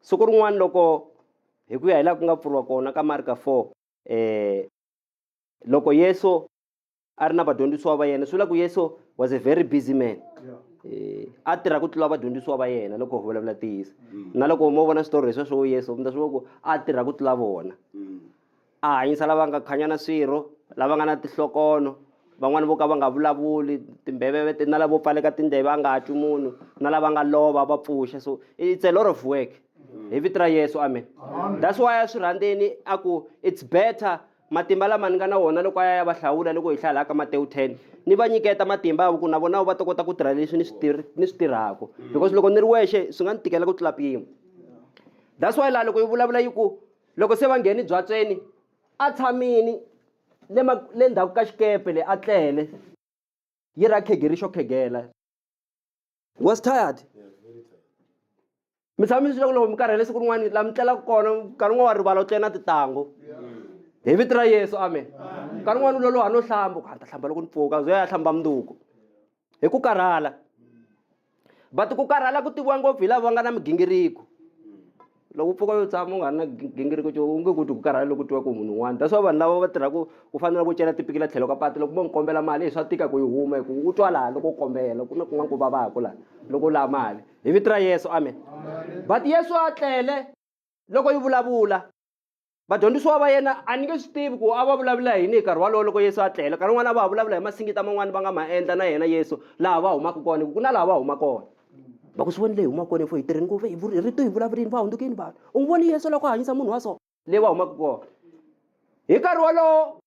Siku rin'wana loko hi ku ya hi laha ku nga pfuriwa kona ka Marka 4 eh loko Yesu a ri na vadyondzisiwa va yena swi vula ku Yesu was a very busy man eh a tirha ku tlula vadyondzisiwa va yena loko hi vulavula tiyisa mm. na loko mo vona switori leswi swo Yesu mi ta swi vona ku a tirha ku tlula vona mm. A hanyisa lava nga khanya na swirho, lava nga na tihlokono, van'wana vo ka va nga vulavuli, timbhevevete na lavo pfaleka tindleve a nga twi munhu, na lava nga lova va pfuxa. So it's a lot of work. Hi vito ra Yesu, amen. That's why a swi rhandzeni a ku it's better matimba lama ni nga na wona loko a ya ya va hlawula loko hi hlaya laha ka Matewu 10 ni va nyiketa matimba ya ku na vona va ta kota ku tirha leswi ni swi tirhi ni swi tirhaka because loko ni ri wexe swi nga ni tikela ku tlula mpimo that's why laha loko yi vulavula yi ku Loko se va nghene byatsweni, a tshamile le ma le ndzhaku ka xikepe le a tlele, yi ra khegeri xo khegela. Was tired. Mi tshama mi swi leswaku loko mi karhele siku rin'wana la mi tlelaka kona nkarhi un'wana wa rivala u tlele na titangu hi vito ra Yesu amen nkarhi un'wana u loloha no hlamba ku a ni ta hlamba loko ni pfuka ze a hlamba mundzuku hi ku karhala but ku karhala ku tiviwa ngopfu hi lava va nga na migingiriko loko u pfuka yo tshama u nga ri na gingiriko xo u nge ku ti ku karhala loko tiwa ku munhu un'wana that's why vanhu lava va tirhaka u fanele ku cela tipikila tlhelo ka patu loko mo n'wi kombela mali hi swa tika ku yi huma hi ku u twa laha loko u kombela ku na kun'wana ku vavaka laha loko u lava mali hi vito ra yesu amen but yesu a tlele loko yi vulavula vadyondzisiwa va yena a ni nge swi tivi ku a va vulavula hi yini hi nkarhi walowo loko yesu a tlela nkarhi wun'wana a va ha vulavula hi masingita man'wani va nga ma endla na yena yesu laha va humaka kona hi ku ku na laha va huma kona va ku swi voni leyi humaka kona efo hi tirhi ngopfu hi vuri rito hi vulavurini va hundzukini vanhu u n'wi voni yesu loko a hanyisa munhu wa so leyi va humaka kona hi nkarhi wolowo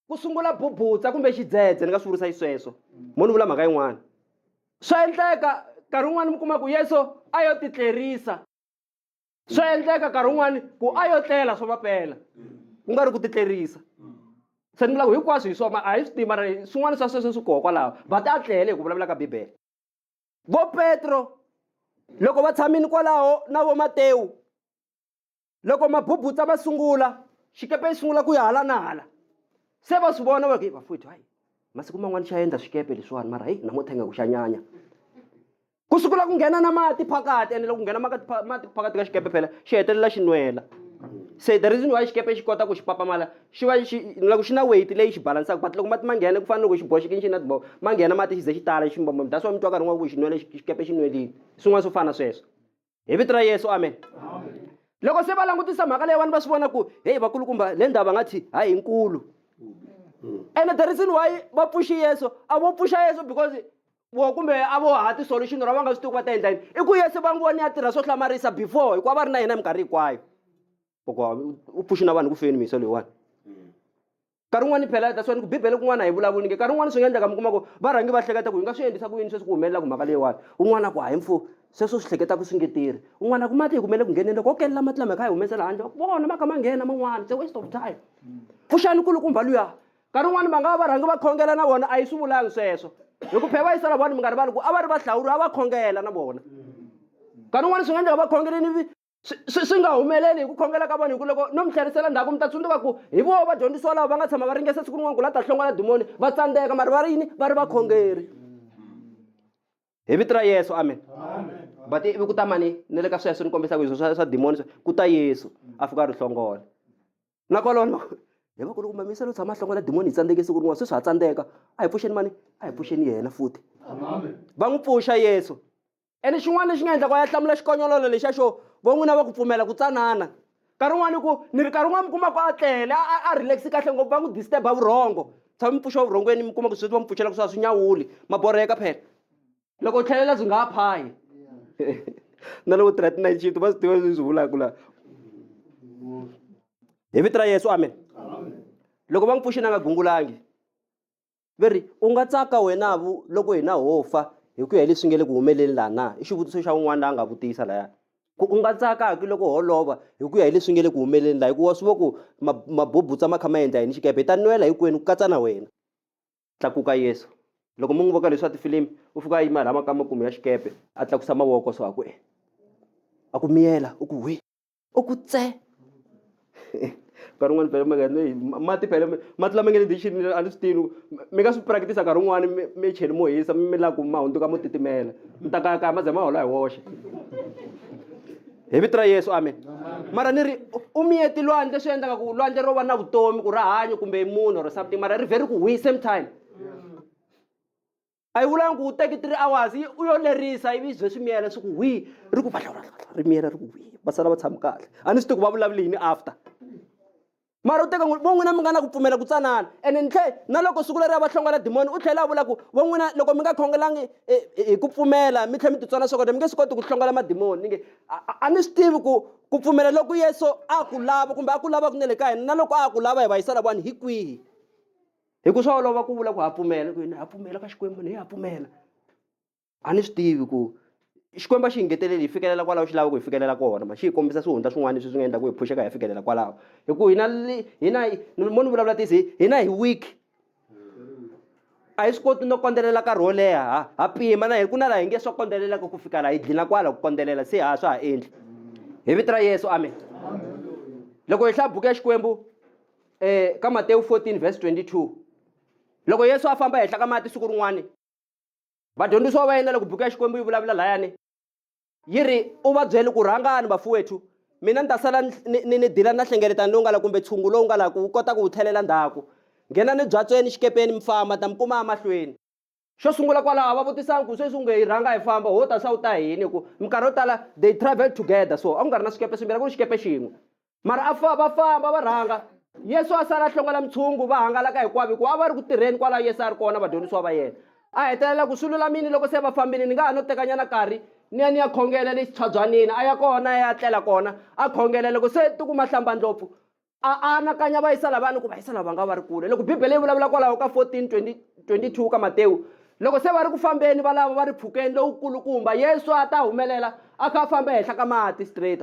ku sungula bubutsa kumbe xidzedze ni nga swi vurisa xisweswo mo ni vula mhaka yin'wana swa endleka nkarhi wun'wana mi kuma ku yesu a yo titlerisa swa endleka nkarhi wun'wani ku a yo tlela swa mapela ku nga ri ku titlerisa se ni vulaku hinkwaswo hi swona a hi swi tiva mara swin'wana swa sweswo swi koho kwalaho va ta tlele hi ku vulavula ka bibele vo petro loko va tshamini kwalaho na vo matewu loko mabubutsa ma sungula xikepe yi sungula ku ya hala na hala se va swi vona va ku vafowethu hayi masiku man'wana xa endla swikepe leswiwani mara heyi namuntlha ingaku xa nyanya ku sukula ku nghena na mati phakati ene loko nghena mati phakati ka xikepe phela xi hetelela xi nwela se the reason why xikepe xi kota ku xi papamala xi va xi loko xi na weight leyi xi balansaka but loko mati ma nghena ku fana loko xi boxekini xi na tibobo ma nghena mati xi ze xi tala xi mbombo that's why mi twa nkarhi n'wana ku xi nwele xikepe xi nwelile swin'wana swo fana sweswo hi vito ra yesu amen loko se va langutisa mhaka leyiwani va swi vona ku heyi vakulukumba le ndhawu va nga thi hayi nkulu ene the reason why va pfuxi yesu a vo pfuxa yesu because vo kumbe a vo ha ti-solution ra va nga swi tiku va ta endla yini i ku yesu va n'wi voni ya tirha swo hlamarisa before hikuva va ri na yena minkarhi hinkwayo u pfuxi na vanhu ku feni miso leyiwani nkarhi wun'wani phela that's why ni ku bibele kun'wana a hi vulavuli nge nkarhi wun'wani swi nga endleka mi kuma ku va rhangi va hleketa ku hi nga swi endlisa ku yini sweswi ku humelelaka mhaka leyiwani un'wana ku hayi mfo sweswo swi hleketaka swi nge tirhi un'wana ku mati hi kumele ku ngheneni loko o kelela mati lama hi kha hi humesela handle va ku vona ma kha ma nghena man'wana it's a waste of time pfuxani kulukumba luya nkarhi wun'wani va nga va va rhangi va khongela na vona a yi swi vulangi sweswo hi ku phela va yisela vona mi nga rivali ku a va ri vahlawuri a va khongela na vona nkarhi wun'wani swi nga endleka va khongeleni swi swi swi nga humeleli hi ku khongela ka vanhu hi ku loko no mi tlherisela ndzhaku mi ta tsundzuka ku hi voho vadyondzisiwa lava va nga tshama va ringesa siku rin'wana ku la ta hlongola dimoni va tsandzeka mari va ri yini va ri vakhongeri hi vito ra yesu amen but ivi ku ta mani ni le ka sweswo ni kombisaka izwo swa swa dimoni swa ku ta yesu a fika a ri hlongola nakolona hi va ku loko mamisa lo tshama a hlongola dimoni hi tsandzeke siku rin'wana sweswi ha tsandzeka a hi pfuxeni mani a hi pfuxeni yena futhi va n'wi pfuxa yesu ene xin'wana lexi nga endlaka ya hlamula xikonyololo lexa xo vo n'wina va ku pfumela ku tsanana nkarhi wun'wana ku ni ri nkarhi wun'wana mi kuma ku a tlele a relax kahle ngopfu va n'wi disturb a vurhongo tshama mi pfuxa vurhongweni mi kuma ku sweswi va mi pfuxela ku swa swi nyawuli maborheka phela loko u tlhelela byi nga ha phayi na loko tirha ti-night shift va swi tiva leswi swi vulaka laha hi vito ra yesu amen loko va n'wi pfuxini a nga gungulangi va ri u nga tsaka wena vu loko hina ho fa hi ku ya hi leswi nge le ku humeleni laha na i xivutiso xa un'wana la a nga vutisa laya ku u nga tsaka ki loko ho lova hi ku ya hi leswi nge le ku humeleni laha hikuva swi vo ku mabubutsa ma kha ma endla yini xikepe hi ta nwela hinkwenu ku katsa na wena tlakuka yesu loko mu n'wi voka leswi swa tifilimi u fika a yima laha makamakumu ya xikepe a tlakusa mavoko so a ku e a ku miyela u ku hwi u ku tse nkarhi wun'wani phela mi nga hi mati phela mati lama nge le dixini a ni swi tini mi nga swi practice nkarhi wun'wani mi cheli mo hisa mi la ku ma hundzuka mo titimela mi ta kayakaya ma ze ma hola hi woxe hi vito ra yesu amen mara ni ri u miyeti lwandle swi endlaka ku lwandle ro va na vutomi ku ra hanya kumbe munhu or something mara ri vhe ri ku hwi same time a yi vulangi ku u teki three hours yi u yo lerisa ivi bye swi miyela swi ku hwi ri ku ri miyela ri ku hwi va sala va tshami kahle a ni swi tivi ku va vulavule yini after mara u teka vo n'wina mi nga na ku pfumela ku tsanana ene ni tlhe na loko siku leri a va hlongola dimoni u tlhela a vula ku vo n'wina loko mi nga khongelangi e, e, hi ku pfumela mi tlhela mi titswana swakudya mi nge swi koti ku hlongola madimoni ni nge a ni swi tivi ku ku pfumela loko yesu a ku lava kumbe a ku lava kunene ka hina na loko a ku lava hi va yisa lavani hi kwihi hi ku swa olova ku vula ku ha pfumela ku ha pfumela ka xikwembu ni ha pfumela a ni swi tivi ku xikwembu a xi hi ngeteleli hi fikelela kwalaho xi lava ku hi fikelela kona ma xi hi kombisa swihundla swin'wana leswi swi nga endla ku hi phuxeka hi ya fikelela kwalaho hi ku hina hina mo ni vulavula tisi hina hi weak a hi swi koti no kondzelela nkarhi wo leha ha ha pima na hi ku na laha hi nge swa kondzelelaka ku fika laha hi dlina kwala ku kondzelela se ha swa ha endli hi vito ra yesu amen loko hi hlaya buku ya xikwembu eh, ka matewu 14 vhesi 22 loko yesu a famba ehenhla ka mati siku rin'wana vadyondzisiwa va yena loko buku ya xikwembu yi vulavula layani yi ri u va byele ku rhangani vafuwethu mina ni ta sala ni ni dila na hlengeletano lowu nga la kumbe tshungu lowu nga la ku wu kota ku wu tlhelela ndzhaku nghenani byatsweni xikepeni mi famba ta mi kuma emahlweni Xo sungula kwalaho va vutisana ku sweswi unge hi rhanga hi famba ho ta swa u ta hini hi ku minkarhi yo tala they travel together so a ku nga ri na swikepe swimbirhi a ku ri xikepe xin'we mara a fa va famba va rhanga yesu a sala a hlongela mintshungu va hangalaka hinkwavo hikuva a va ri ku tirheni kwalaho yesu a ri kona vadyondzisiwa va yena a hetelela ku swi lulamini loko se va fambile ni nga ha no tekanyana karhi ni ya ni ya khongela le xitshwabyanini a ya kona a ya tlela kona a khongela loko se tikuma hlambandlopfu A a anakanya va yisa lavani ku va yisa lava va nga va ri kule. Loko Bibele yi vulavula kwalaho ka 14, 20, 22 ka Matewu, loko se va ri ku fambeni va lava va ri phukeni lowu kulukumba, Yesu a ta humelela a kha a famba ehenhla ka mati straight.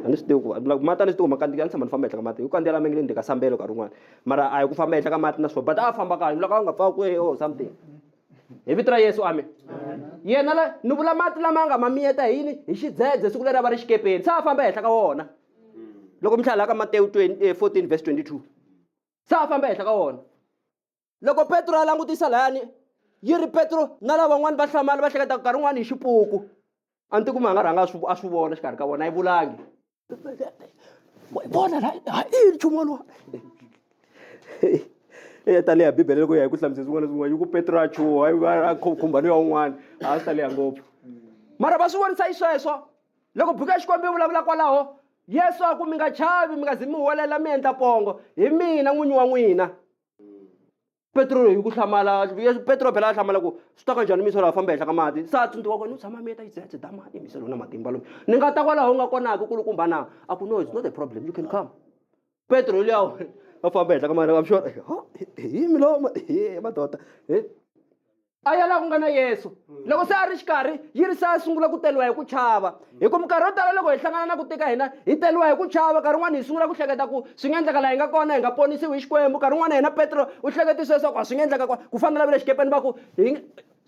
A ni swi tivi ku like mati a ni swi tivi ma kandziyela ni tshama ni famba ehenhla ka mati. Hi ku kandziyela mi nge ni ka sambelo nkarhi wun'wana. Mara a hi ku famba ehenhla ka mati na swo but a a famba kahle loko a nga pfaka kwihi or something. Hi vito ra Yesu amen. Yena la ni vula mati lama nga ma miyeta hi yini hi xidzedze siku leri a va ri xikepeni se a famba ehenhla ka wona. loko mi hlalela ka matewu 14 eh, verse 22 se a famba ehenhla ka wona loko petro a langutisa layani yi ri petro na lavan'wana va hlamala va hleketa nkarhi un'wana hi xipuku a ni ti kuma a nga rhanga a swi vona xikarhi ka vona a yi vulangi vona la ha i nchumu wolowo eya ta leha bibele loko ya hi ku hlamusela swin'wana na swin'wana yi ku petro a chuha a khumba ni ya un'wana a swi ta leha ngopfu mara va swi vonisa yi sweswo loko buku ya xikwembu yi vulavula kwalaho yesu a ku mi nga chavi mi nga zi mi huwelela mi endla pongo hi mina n'winyi wa n'wina petro hi ku hlamala petro phela a hlamala ku swi ta ka njhani misolo a famba ehenhla ka mati se a tsundzuka kwena u tshama mi ta yi dzetse da mati misolo na matimba loyi ni nga ta kwalaho u nga konaka kulukumba na a ku no it's not a problem you can come petro liya va famba ehenhla ka mati i'm sure hi milomo hi madoda a ya laha ku nga na yesu mm. loko se a ri xikarhi yi ri se a sungula ku teriwa hi ku chava mm. hi ku minkarhi yo tala loko hi hlangana na ku tika hina hi teriwa hi ku chava nkarhi wun'wana hi sungula ku hleketa ku swi nga endleka laha hi nga kona hi nga ponisiwi hi xikwembu nkarhi wun'wana hina petro u hleketise leswaku a swi nga endleka ku fana lavile xikepeni va ku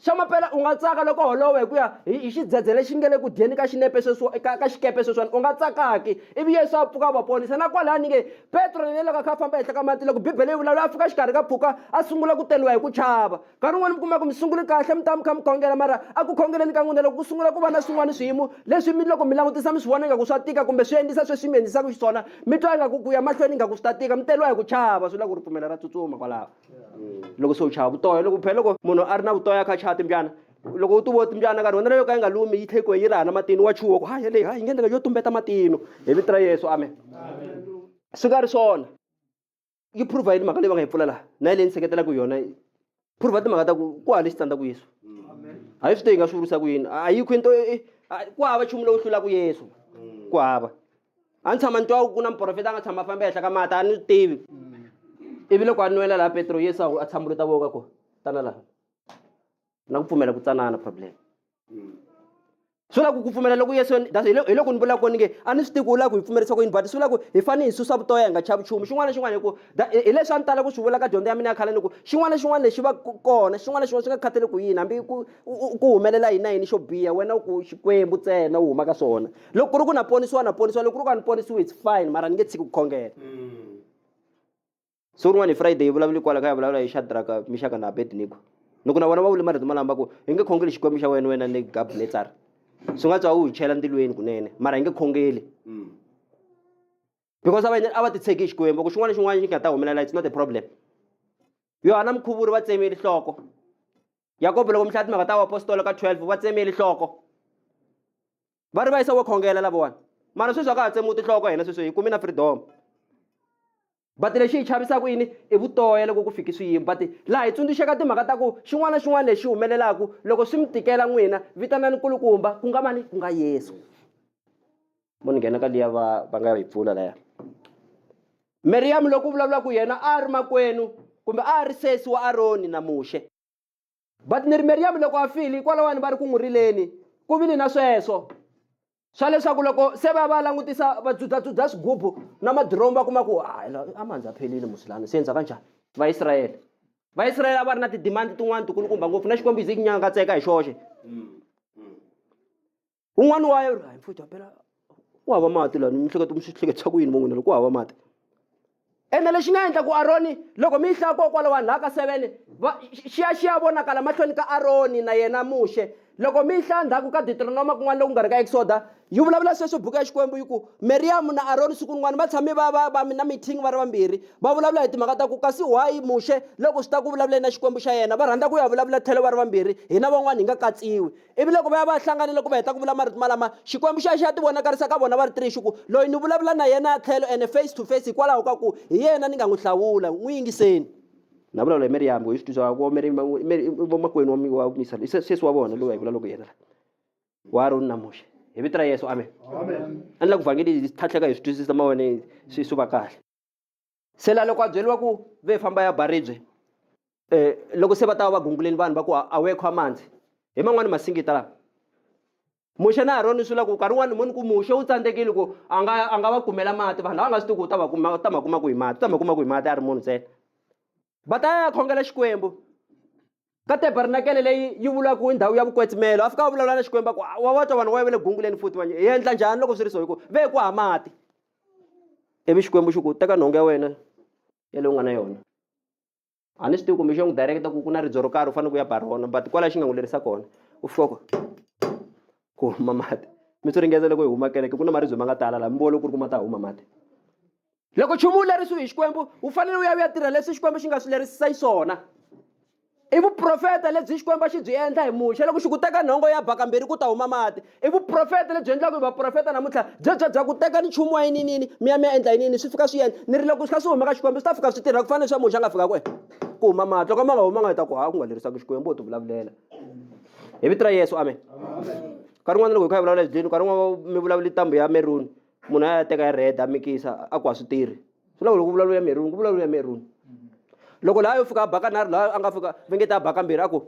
xa maphela u nga tsaka loko holowo hi ku ya hi xidzedze lexi nge le ku dyeni ka xinepe sweswo ka ka xikepe sweswiwani u nga tsakaki ivi yesu a pfuka va ponisa na kwalani nge petro ni loko a kha a famba ehenhla ka mati loko bibele yi vulavula a fika xikarhi ka pfuka a sungula ku teliwa hi ku chava nkarhi wun'wana mi kuma ku mi sungule kahle mi ta mi kha mi khongela mara a ku khongeleni ka n'wina loko ku sungula ku va na swin'wana swiyimo leswi mi loko mi langutisa mi swi vona ingaku swa tika kumbe swi endlisa sweswi mi endlisaka xiswona mi twa ingaku ku ya mahlweni ingaku swi ta tika mi teriwa hi ku chava swi la ku ripfumela ra tsutsuma kwalaho loko se u chava vutoya loko phela loko munhu a ri na vutoya a kha a chava timbyana loko u tuvo timbyana nkarhi wona yo ka yi nga lumi yi tlhe ku yi raha na matino wa chuwa ku ha yeleyi ha yi nge ndlela yo tumbeta matino hi vito ra yesu amen swi nga ri swona yi prova yini mhaka leyi va nga yi pfula laha na yi leyi ni seketelaka yona prova timhaka ta ku ku hale xitsandzaku yesu a yi swi te yi nga swi vurisa ku yini a yi khwini to e, e, a- ku hava nchumu lowu hlulaka yesu ku hava a ni tshama ni twa ku na muprofeta a nga tshama a famba ehenhla ka mati a ni swi tivi ivi loko a nwela laha petro yesu a ku- a tshambulo ta voka ko tana laha na ku pfumela ku tsanana problem swi vula ku ku pfumela loku yesu hi loko ni vula koni nge a ni swi tivi ku u lava ku hi pfumerisa ku yini but swi vula ku hi fanele hi susa vutoya hi nga chavi nchumu xin'wana na xin'wana hi ku hi leswi a ni tala ku swi vula ka dyondzo ya mina ya khale ni ku xin'wana na xin'wana lexi va kona xin'wana na xin'wana swi nga khatele ku yini hambi ku ku humelela yini na yini xo biha wena u ku xikwembu ntsena u huma ka swona loko ku ri ku na ponisiwa na ponisiwa loko ku ri ku a ni ponisiwi it's fine mara ni nge tshiki ku khongela mm. so rin'wana hi friday hi vulavula kwala kha ya vulavula hi shadraka mixaka na abednigo loko na vona va vule marito malamba ku hi nge khongeli xikwembu xa wena wena ni gabnetsar swi nga tswa u hi chela ntilweni kunene mara hi nge khongeli mm. because ava a va titshegi hi xikwembu ku xin'wana xin'wana xi nga ta humelela it's not a problem yohana mukhuvuri va tsemeli nhloko yakobo loko mi hlaya timhaka ta vaapostolo ka 12 va tsemeli nhloko va ri va yisa wo khongela lavawani mara sweswi a ka ha tsemiwi tinhloko hina sweswi hi kumi na freedom but lexi hi chavisaka yini i vutoya loko ku fiki swiyimo but laha hi tsundzuxeka timhaka ta ku xin'wana na xin'wana lexi humelelaka loko swi mi tikela n'wina vitanani kulukumba ku nga mani ku nga yesu mo ni nghena ka liya va va nga yi pfula laya meriyamu loko u vulavula ku yena a ri makwenu kumbe a ri sesi wa aroni na muxe but ni ri meriyamu loko a file hikwalaho vanhu va ri ku n'wi rileni ku vile na sweswo swa leswaku loko se va va langutisa va dzudzadzudza swigubu na madiromu va kuma ku a mandza phelile musilani se endza ka njhani vaisrayele vaisrayele a va ri na tidimandi tin'wana tikulukumba ngopfu na xikombiso i nyanga katseka hi xoxe un'wana wa yena hayi mfuthu hampela ku hava mati lani mi hleketa mi swi hleketisa ku yini vo n'wina loko ku hava mati ene lexi nga endla ku aroni loko mi yi hlaya kokwala vanhu laha ka seven va xiya xi ya vonakala mahlweni ka aroni na yena muxe loko mi yi hlaya ndzhaku ka deuteronoma kun'wana loku nga ri ka exoda yi vulavula sweswo buku ya xikwembu yi ku meriyamu na aroni siku rin'wana va tshame va va va mi na meeting va ri vambirhi va vulavula hi timhaka ta ku kasi why muxe loko swi ta ku vulavuleni na xikwembu xa yena va rhandza ku ya vulavula tlhelo va ri vambirhi hina van'wana hi nga katsiwi ivi loko va ya va hlanganile ku va heta ku vula marito malama xikwembu xa xa tivonakarisa ka vona va ri tiri xi ku loyi ni vulavula na yena ya tlhelo ene face to face hikwalaho ka ku hi yena ni nga n'wi hlawula n'wi yingiseni na vulavula hi miriyamu ku hi swi twisaka ku vomakwenu wa misalo sesi wa vona loyi va hi vula loko yena la wa aroni na muxe hi vito ra yesu amen a ni la ku vhangeli hi tlhatlheka hi swi twisisa mavone swi swi va kahle se la loko a byeriwa ku ve famba ya ba ribye um loko se va ta va va gunguleni vanhu va ku a we kho amanzi hi man'wani masingita lawa muxe na aroni swi la ku nkarhi wun'wani moni ku muxe wu tsandzekile ku a nga a nga va kumela mati vanhu lava nga swi tiku u ta va kuma ta ma kuma ku hi mati u ta ma kuma ku hi mati a ri munhu ntsena va ta ya khongela xikwembu ka tabernakele leyi yi vulaka hi ndhawu ya vukwetsimelo a fika va vulavula na xikwembu ku wa wa twa vanhu va yivele gunguleni futhi vanye hi endla njhani loko swi ri so hi ku ve ku ha mati ivi xikwembu xi ku teka nhonga ya wena ya leyi u nga na yona a ni swi tivi kumbe xi ya n'wi direketa ku ku na ridzo ro karhi u fanele ku ya ba rona but kwalaho xi nga n'wi lerisa kona u fika ku ku huma mati mi swi ringeza loko hi huma kereke ku na maribye ma nga tala laha mi vona ku ri ku ma ta huma mati loko nchumu wu lerisiwi hi xikwembu wu fanele wu ya wu ya tirha leswi xikwembu xi nga swi lerisisa yi swona i vuprofeta lebyi xikwembu xi byi endla hi muxe loko xi ku teka nhongo ya bakambirhi ku ta huma mati i vuprofeta lebyi endlaka hi vaprofeta namuntlha byebya bya ku teka ni nchumu wa yininini mi ya mi ya endla yinini swi fika swi endla ni ri loko swi kha swi huma ka xikwembu swi ta fika swi tirha ku fana leswi ya muxe a nga fika ku ku huma mati loko ma nga huma nga hi ta ku ha ku nga lerisaka xikwembu u ti vulavulela hi vito ra yesu amen nkarhi un'wana loko hi kha hi vulavula hi byini nkarhi un'wana mi vulavula ntambu ya meruni munhu a ya teka ya red a mikisa a ku a swi tirhi swi lava loko ku vulavula ya meruni ku vulavula ya meruni loko laha yo fika a baka nharhu laha a nga fika vengeta a baka mbirhi a ku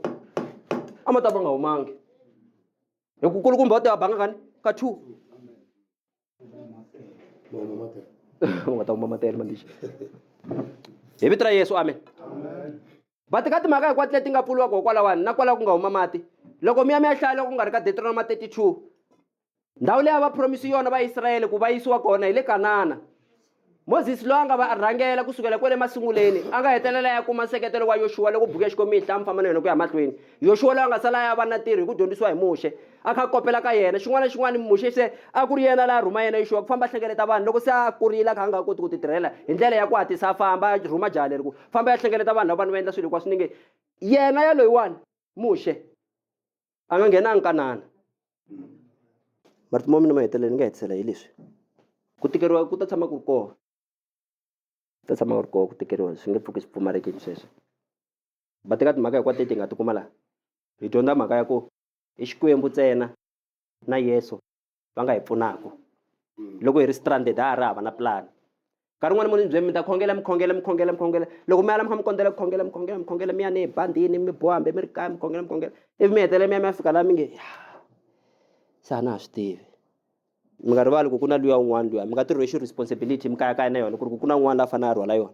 a ma ta va nga humangi hi ku kulukumba u ta banga kani ka two u nga ta kuma matele mandixa hi vito ra yesu amen va teka timhaka hinkwato leti nga pfuriwaka hikwalawani na kwalaho ku nga huma mati loko mi ya mi ya hlaya loko ku nga ri ka deuteronoma 32 ndhawu leyi a va promisi yona vaisrayele ku va yisiwa kona hi le kanana moses loyi a nga va rhangela ku sukela kwale masunguleni a nga hetelela ya kuma nseketelo wa yoxuwa loko buku ya xikwembu yi hlaya mfamba na yona ku ya mahlweni yoxuwa loyi a nga sala ya va na tirho hi ku dyondzisiwa hi muxe a kha kopela ka yena xin'wana na xin'wana muxe se a ku ri yena laha rhuma yena yoxuwa ku famba a hlengeleta vanhu loko se a kurile a kha a nga koti ku ti tirhela hi ndlela ya ku hatlisa a famba a rhuma jaha leri ku famba ya hlengeleta vanhu lava vanhu va endla swilo hinkwaswo ni nge yena yaloyiwani muxe a nga nghenanga kanana marito ma mina ma hetelela ni nga hetisela hi leswi ku tikeriwa ku ta tshama ku ri kona ku ta tshama ku ri kona ku tikeriwa swi nge pfuki swi pfumalekini sweswo va teka timhaka hinkwato leti hi nga ti kuma laha hi dyondza mhaka ya ku i xikwembu ntsena na yeso va nga hi pfunaka loko hi ri stranded ha ha ri hava na plan nkarhi un'wana munhu byemi mi ta khongela mi khongela mi khongela mi khongela loko mi ala mi kha mi kondzela ku khongela mi khongela mi khongela mi ya ni bandini mi boha hambi mi ri kaya mi khongela mi khongela ivi mi hetelela mi ya mi ya fika laha mi nge se a na ha swi tivi mi nga rivali ku ku na luya un'wana luya mi nga ti rhwexi responsibility mi kayakaya na yona ku ri ku ku na un'wana la a fanele a rhwala yona